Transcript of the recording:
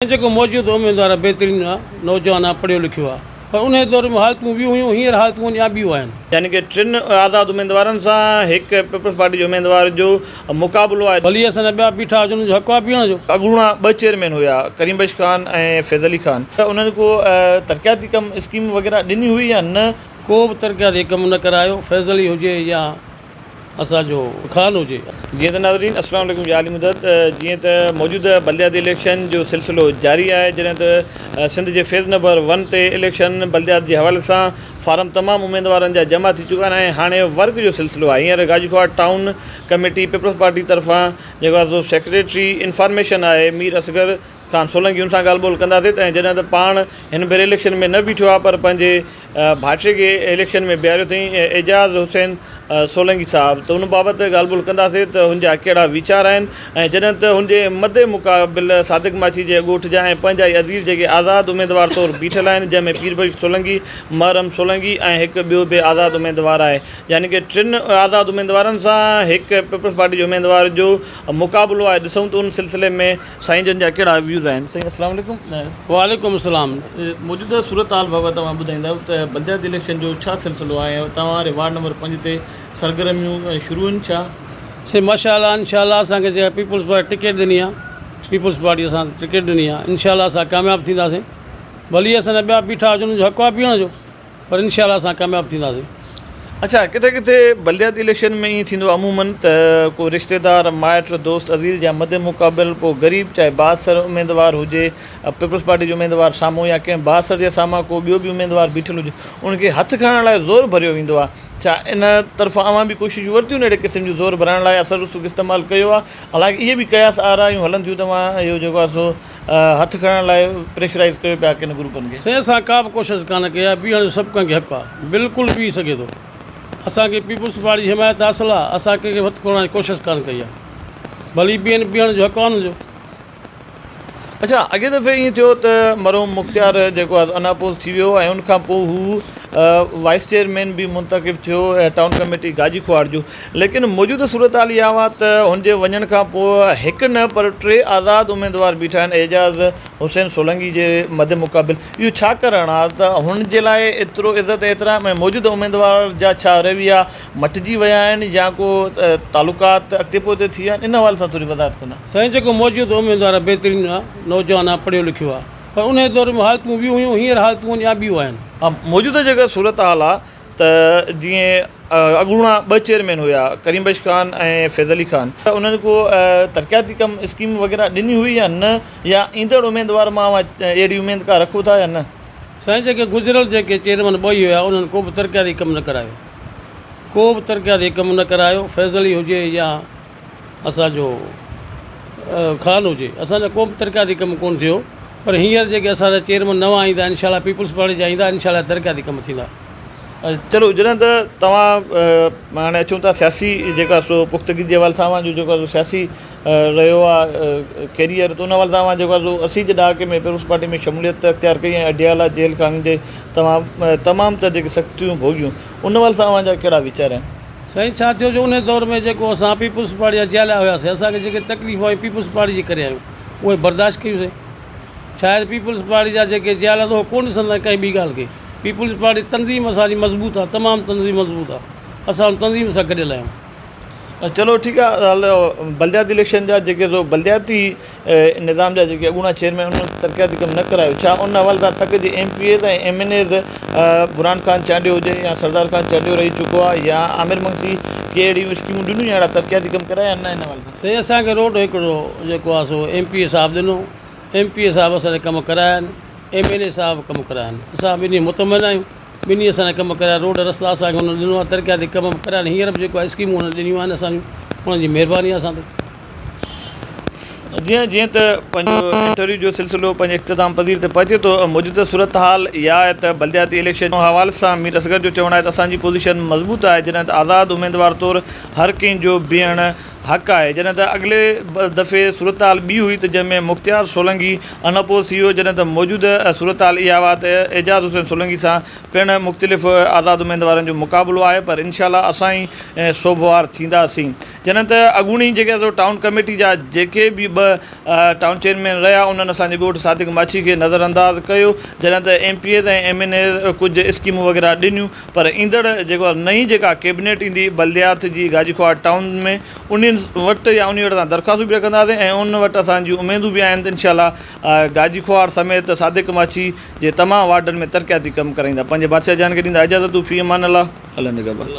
۽ جيڪو موجوده اميدوار آهي بهترين آهي نوجوان آهي پڙهيو لکيو آهي پر انهي دور ۾ حالتون ٻيون هيون هينئر حالتون آهن يا ٻيون آهن. يعني ڪه ٽن آزاد اميدوارن سان هڪ پيپلز پارٽي جي اميدوار جو مقابلو آهي. ڀلي اسان جا ٻيا بيٺا هجن انهن جو حق آهي بيهڻ جو. اڳوڻا ٻه چيئرمين هيا ڪريم بخش خان ۽ فيض علي خان ته انهن ڪو ترقياتي ڪم اسڪيم وغيره ڏني هئي يا نه؟ ڪو به ترقياتي ڪم نه ڪرايو فيض علي هجي يا. اسان جو خان هجي. جيئن ته ناظرين السلام عليڪم يا علي مدد جيئن ته موجوده بلدياتي اليڪشن جو سلسلو جاري آهي جڏهن ته سنڌ جي فيز نمبر ون تي اليڪشن بلديات جي حوالي سان فارم تمام اميدوارن جا جمع ٿي چڪا آهن ۽ هاڻي ورڪ جو سلسلو آهي هينئر Gajikhuhawar town committee Peoples Party طرفان جيڪو سيڪريٽري انفارميشن آهي مير اصغر کان سولنگين سان ڳالهه ٻولهه ڪنداسين ته جڏهن ته پاڻ هن ڀيري اليڪشن ۾ نه بيٺو آهي پر پنهنجي ڀائٽي کي اليڪشن ۾ بيهاريو اٿئين اعجاز حسين سولنگي صاحب ته ان بابت ڳالهه ٻولهه ڪنداسين ته هن جا ڪهڙا ويچار آهن ۽ جڏهن ته هن جي مدي مقابل صادق ماڇي جي اڳوٺ جا ۽ پنهنجا ئي عزير جيڪي آزاد اميدوار طور بيٺل آهن جنهن ۾ پيربخش سولنگي محرم سولنگي ۽ هڪ ٻيو به آزاد اميدوار آهي يعني ڪه ٽن آزاد اميدوارن سان هڪ پيپلز پارٽي جي اميدوار جو مقابلو آهي ڏسون ته ان سلسلي ۾ سائين جن جا ڪهڙا ويوز آهن سائين اسلام عليڪم. وعليڪم السلام موجوده صورت حال بابت اوهان ٻڌائيندا ته بلدياتي اليڪشن جو ڇا سلسلو آهي ۽ اتان واري وارڊ نمبر پنج تي سرگرميون شروع هن ڇا؟ سائين ماشا الله انشا الله اسان کي جيڪا پيپلز پارٽي ٽڪيٽ ڏني آ پيپلز پارٽي اسان کي ٽڪيٽ ڏني آ انشا الله اسان ڪامياب ٿينداسين ڀلي اسان جا ٻيا بيٺا هجن انهن جو حق آ بيهڻ جو پر انشاء الله اسان ڪامياب ٿينداسين. اڇا ڪٿي ڪٿي بلدياتي اليڪشن ۾ ائين ٿيندو عموماً ته ڪو رشتيدار مائٽ دوست عزيز جا مد مقابل ڪو غريب چاهي بااثر اميدوار هجي پيپلز پارٽي جو اميدوار سامهون يا ڪنهن بااثر جي سامهان ڪو ٻيو به اميدوار بيٺل هجي ان کي هٿ کڻڻ لاء زور ڀريو ويندو آهي ڇا ان طرفان اوهان به ڪوششون ورتيون اهڙي قسم جون زور ڀرائڻ لاء اثر رسوخ استعمال ڪيو آهي حالانڪه اهي به قياس آرائيون هلن ٿيون ته اوهان اهو جيڪو آهي سو هٿ کڻڻ لاء پريشرائيز ڪيو پيا ڪن گروپن کي. سي اسان ڪابه ڪوشش ڪانه ڪئي آهي بيهڻ جو سڀ ڪنهن کي حق آهي بلڪل بيهي سگهي ٿو اسان کي پيپلز پارٽي جي حمايت حاصل آهي اسان ڪنهن کي هٿ کوڙڻ جي ڪوشش ڪانه ڪئي آهي ڀلي بيهن بيهڻ جو حق آهي انهن جو. اڇا اڳئين دفعي ائين ٿيو ته مرحوم مختيار جيڪو آهي اناپوز ٿي ويو ۽ ان کان پوء هو وائيس چيئرمين به منتخب ٿيو ٽائون ڪميٽي گاجي ڪهاڙ جو ليڪن موجوده صورتحال اها اها ته هن جي وڃڻ کان پوء هڪ نه پر ٽي آزاد اميدوار بيٺا آهن اعجاز حسين سولنگي جي مد مقابل اهو ڇا ڪرڻ آ ته هن جي لاء ايترو عزت احترام ۽ موجوده اميدوار جا ڇا رويا مٽجي ويا آهن يا ڪو تعلقات اڳتي پوئتي ٿي ويا آهن ان حوالي سان ٿوري وضاحت ڪندا. سائين جيڪو موجوده اميدوار آ بهترين آ نوجوان آ پڙهيو لکيو آ پر انهي دور ۾ حالتون به هيون هينئر حالتون اڃان به آهن. ها موجوده جيڪا صورتحال آ. ته جيئن اڳوڻا ٻه چيئرمين هيا ڪريم بخش خان ۽ فيض علي خان ته انهن ڪو ترقياتي ڪم اسڪيم وغيره ڏني هئي يا نه يا ايندڙ اميدوار ماء اهڙي اميد ڪا رکو ٿا يا نه سائين جيڪي گذريل جيڪي چيئرمين ٻه ئي هيا انهن ڪو به ترقياتي ڪم نه ڪرايو ڪو به ترقياتي ڪم نه ڪرايو فيض علي هجي يا اسان جو خان هجي اسان جا ڪو به ترقياتي ڪم ڪونه ٿيو پر هينئر جيڪي اسان جا چيئرمين نوان ايندا انشاء الله پيپلز پارٽي جا ايندا انشاء الله ترقياتي ڪم ٿيندا چلو جڏهن ته توهان هاڻي اچون ٿا سياسي جيڪا سو پختگي جي حوالي سان اوهان جو جيڪو آهي سو سياسي رهيو آهي ڪيريئر ته ان حوالي سان اوهان جيڪو آهي سو اسي جي ڏهاڪي ۾ پيپلز پارٽي ۾ شموليت اختيار ڪئي ۽ اڊيالا جيل خاني جي توهان تمام تر جيڪي سختيون ڀوڳيون ان حوالي سان اوهان جا ڪهڙا ويچار آهن سائين ڇا ٿيو جو انهي دور ۾ جيڪو اسان پيپلز پارٽي جا جياليا هياسين اسان کي جيڪي تڪليفون آيون پيپلز پارٽي جي ڪري آيون اهي برداشت ڪيون سين شايد پيپلز پارٽي جا جيڪي جيالا هو ڪو ڏسندا آهن ڪنهن ٻي ڳالهه کي پيپلز پارٽي تنظيم اسان جي مضبوط آهي تمام تنظيم مضبوط آهي اسان ان تنظيم سان گڏيل آهيون چلو ٺيڪ آهي بلدياتي اليڪشن جا جيڪي سو بلدياتي نظام جا جيڪي اڳوڻا چيئرمين انهن ترقياتي ڪم نه ڪرايو ڇا ان حوالي سان تڪ جي M P As ۽ M N As Burhan Khan Chandio هجي يا سردار خان چانڊيو رهي چڪو آهي يا عامر منگسي ڪي اهڙيون اسڪيمون ڏنيون اهڙا ترقياتي ڪم ڪرايا آهن ان حوالي سان سائين اسان کي روڊ هڪڙو جيڪو آهي سو ايم پي اي صاحب ڏنو ايم پي اي صاحب اسان جا ڪم ڪرايا آهن ايم اين اي صاحب ڪم ڪرايا آهن اسان ٻنهي مطمئن آهيون ٻنهي اسان جا ڪم ڪرايا روڊ رستا اسان کي هن ڏنو آهي ترقياتي ڪم ڪرايا آهن هينئر به جيڪو آهي اسڪيمون هن ڏنيون آهن اسان جون هن جي مهرباني آهي اسان تي جيئن جيئن ته پنهنجو انٽرويو جو سلسلو پنهنجي اختتام پذير تي پهچي ٿو موجوده صورتحال اها آهي ته بلدياتي اليڪشن جي حوالي سان مير اصغر جو چوڻ آهي ته اسان جي پوزيشن مضبوط آهي جڏهن ته آزاد اميدوار طور هر ڪنهن جو بيهڻ حق آهي جڏهن ته اڳلي دفعي صورتحال ٻي هئي ته جنهن ۾ مختيار سولنگي ان اپوز ٿي ويو جڏهن ته موجوده صورتحال اها آهي ته اعجاز حسين سولنگي سان پڻ مختلف آزاد اميدوارن جو مقابلو آهي پر انشاء الله اسان ئي سوڀوار ٿينداسين جڏهن ته اڳوڻي جيڪي سو ٽائون ڪميٽي جا جيڪي به ٻه ٽائون چيئرمين رهيا انهن اسان جي ڳوٺ صادق ماڇي کي نظر انداز ڪيو جڏهن ته M P As ۽ M N As ڪجهه اسڪيمون وغيره ڏنيون پر ايندڙ جيڪو نئين جيڪا ڪيبنيٽ ايندي بلديات جي گاجي خوار ٽائون ۾ انهن وٽ يا انهي وٽ اسان درخواستون به رکنداسين ۽ انهن وٽ اسان جون اميدون به آهن ته انشاء الله گاجي خوار سميت صادق ماڇي جي تمام وارڊن ۾ ترقياتي ڪم ڪرائيندا پنهنجي بادشاهه جان کي ڏيندا اجازت في امان الله الله نگهبان.